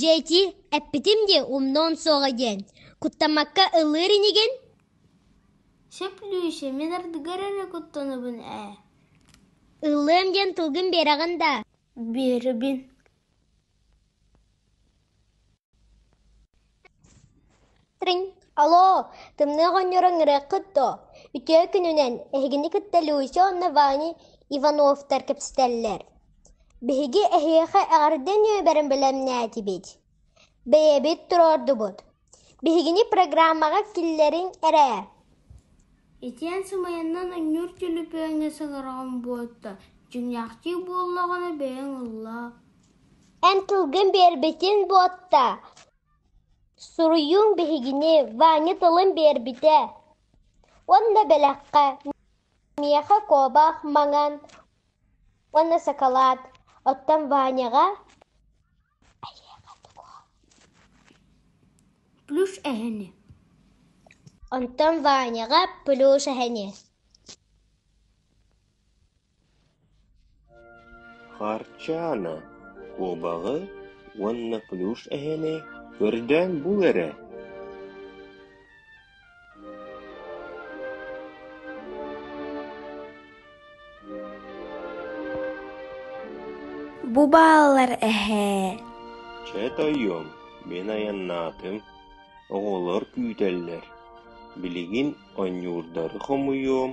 Дьэти, эппитим дии умнуон суоҕа диэн, куттаммакка ыллыыр инигин? Сөп Лүүсэ, мин ардыгар эрэ куттанабын ээ Ыллыам диэн тылгын биэрэҕин да Биэрэбин Триҥ, алоо, тымныы оҕонньору ыҥырыаххыт дуо? Үтүө күнүнэн эһигини кытта Люся уонна Ваня Ивановтар кэпсэтэллэр. Биһиги эһиэхэ эҕэрдэ ньүөбэрин бэлэмнээтибит. Бэйэбит туруордубут. Биһигини программаҕа киллэриҥ эрэ. Итиэн сымайаннан анньыыр төлөпүөҥҥэ саҥараҕым буолта. Дьиҥнээхтии буоллаҕына бэйэҥ ылла. Эн тылгын биэрбитин буотта. Суруйуум биһигини Ваня тылын биэрбитэ уонна бэлэххэ миэхэ куобах маҥан уонна сакалаат, оттон Ваняҕа плюш эһэни онтон Ваняҕа плюш эһэни Харчаана куобаҕы уонна плюш эһэни көрдөөн бул эрэ Бу бааллар эһээ Чэ тойуом мин айаннаатым оҕолор күүтэллэр билигин онньуурдары хомуйуом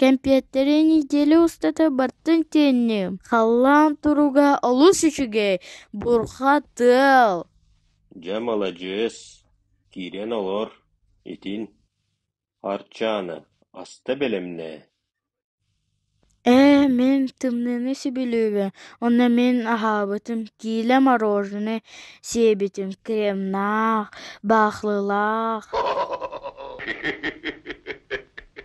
Кэмпиэттэрэ нэдиэлэ устата бартын тээнниэм, халлаан туруга олус үчүгэй, бурха тыал Дьэ, маладьыас, киирэн олор, итин. Арчаана, аста бэлэмнээ. Ээ, мин тымныыны сөбүлүүбүн, онно мин аһаабытым киилэ мороженое сиэбитим кремнаах, баахлылаах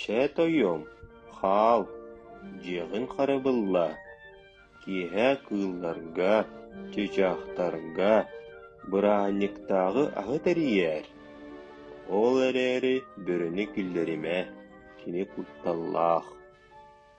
Чэ, тойуом, хаал, дьиэҕин харабылла, киэһэ кыылларга, чычаахтарга, бырааһынньыктааҕы аһы тэрийээр, ол эрээри бөрөнү киллэримэ, кини кутталлаах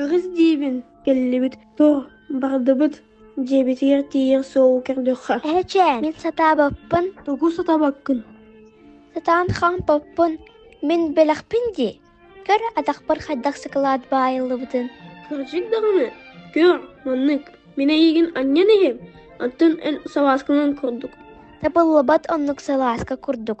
Өрүс диибин кэллибит туо бардыбыт дьиэбитигэр тиийэн суол көрдөххө Эһэчээн, мин сатаабаппын, тугу сатабаккын сатаан хаампаппын. Мин бэлэхпин дии. Көр атахпар хайдах сакылаат баайыллыбытын. кырдьык даҕаны көр маннык мин эйигин анньан иһим аттын эн салааскынан курдук Табыллыбат оннук салааска курдук.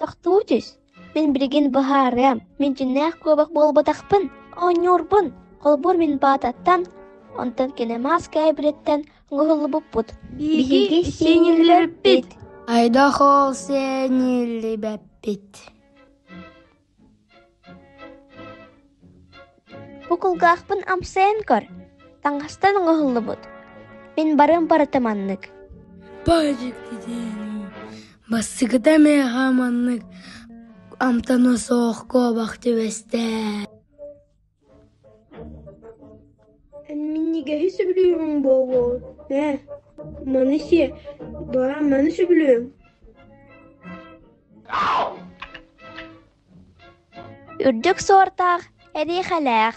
Тохтуу түс. Мин билигин быһаарыам. Мин дьиннээх куобах буолбатахпын. Оонньуурбун. Холбуур мин баататтан, онтон кини мас кээбириттэн уһуллубуппут. Биһиги сиэниллэрбит. Айдахол сиэниллибэппит. Бу кулгаахпын амсайан көр, таҥастан оҥоһуллубут. Мин барыам барыта маннык. Бассыгыта меха маннык амтана суох куобах түбэстэ. Эн минньигэһи сөбүлүүрүҥ буолуо ээ, маны сиэ, бара маны сөбүлүөҥ Үрдүк суортаах, эриэхэлээх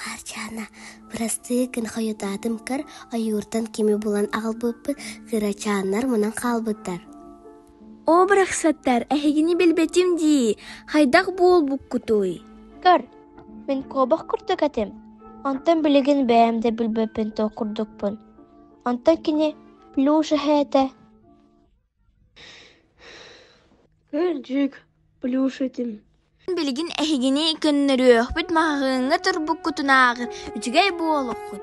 Хаарчаана, бырастыы гын хойутаатымкар ойууртан кими булан аҕалбыппыт, кырачааннар мунан хаалбыттар «Оо барахсаттар, эһигини билбэтим дии, хайдах буолбуккутуй?» «Көр, мин куобах курдук этим, онтон билигин бэйэм да билбэппин туох курдукпун, онтон кини плюш эһээтэ» Билигин эһигини көннөрүөхпүт маһаһыыҥҥа турбуккутунааҕы үчүгэй буолуоххут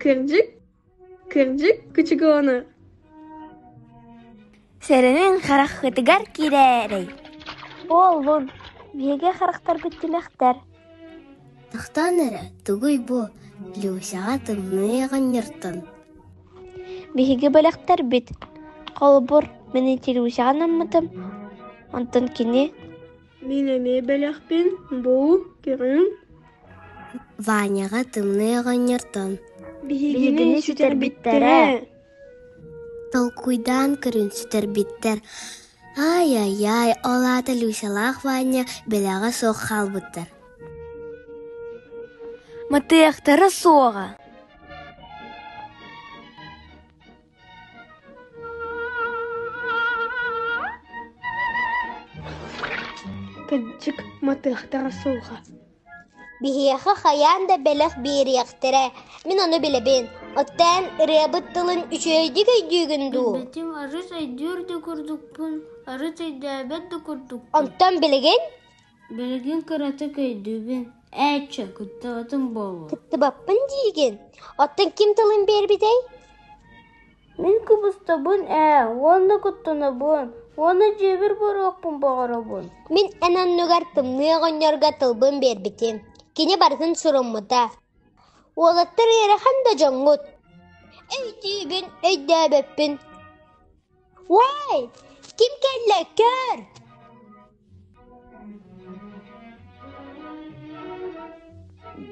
Кырдьык, кырдьык кучугоону. Сэрэнин хараххытыгар кирээрэй. Буоллун, биһиги харахтарбыт тимэхтэр. Тохтоон эрэ, тугуй бу Люсяҕа тымныы оҕонньортон. Биһиги бэлэхтэрбит. Холобур, мин ити Люсяҕа наммытым, онтон кини Мин эмиэ бэлэхпин бу көрүҥ Ваняҕа Тымныы оҕонньортон Биһигини сүтэрбиттэрэ Толкуйдаан көрүн сүтэрбиттэр Ай-ай-ай, ол аата Люсялаах Ваня бэлэҕэ суох хаалбыттар Мытыахтара суоҕа Кырдьык, матыахтара суоҕа. Биһиэхэ хайаан да бэлэх биэриэхтэрэ. Мин ону билэбин. Оттон ырыабыт тылын үчүгэйдик өйдүүгүн дуу? Эбэтим арыс өйдүүр да курдукпун, арыс өйдөөбөт да курдукпун. Онтон билигин? Билигин кыратык өйдүүбүн, ээччи, кыттыбатым буолуо Кыттыбаппын диигин? Оттон ким тылын биэрбитэй? Мин кыбыстобун ээ, уонна куттанабын, уонна дьиэбэр буолуохпун баҕарабын Мин эн оннугар тымныы оҕонньорго тылбын биэрбитим. Кини барытын суруммута. Уолаттар ыарахан да дьоҥҥут. Өйдүүбүн, өйдөөбөппүн Уэй, ким кэллэ, көр!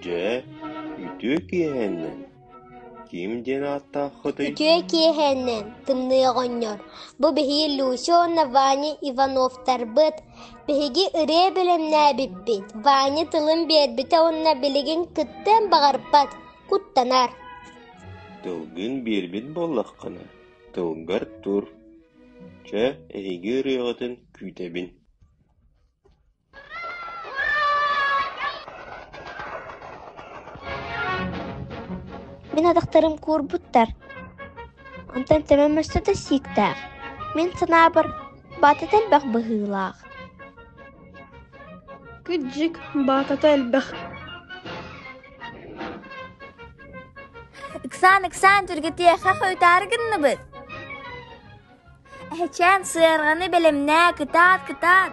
Дьэ, үтүө киэһэннэн ким диэн ааттааххытый? Үтүө киэһэннэн Тымныы оҕонньор. Бу биһиги Люся уонна Ваня Ивановтарбыт. Биһиги ырыа бэлэмнээбиппит. Ваня тылын биэрбитэ уонна билигин кыттыан баҕарбат. Куттанар. Тылгын биэрбит буоллаххына, тылгар тур, чэ, эһиги ырыаҕытын күүтэбин Мин атахтарым куурбуттар. Онтон Төмөн мөссө да сииктээх. Мин санаабар, баатата элбэх быһыылаах. Кыдьык, баатата элбэх Ыксаан, ыксаан, түргэтиэхэ хойутаары гынныбыт. Эһэчээн сыарҕаны бэлэмнээ, кытаат, кытаат.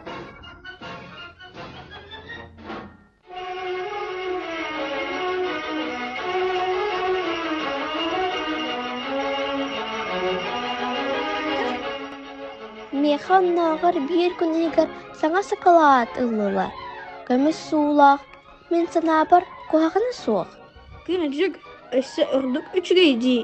Миэхэ оннооҕор биир күнүгэр саҥа сакалаат ыллылар. Көмүс суулаах, мин санаабар, куһаҕана суох. Күнүдьүк өссө ордук үчүгэй дии.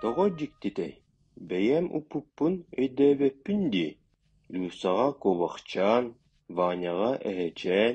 Тоҕо дьиктитэй, бэйэм укпуппун өйдөөбөппүн дии, Люсаҕа куобахчаан, Ваняҕа эһэчээн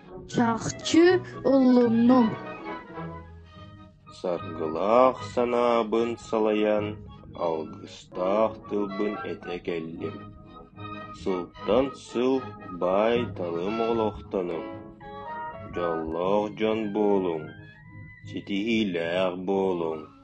Чахчы ыллынным Саргылаах санаабын салайан Алгыстаах тылбын этэ кэллим Сылтан сыл баай-талым олохтонуҥ Дьоллоох дьон буолуҥ Ситиһиилээх буолуҥ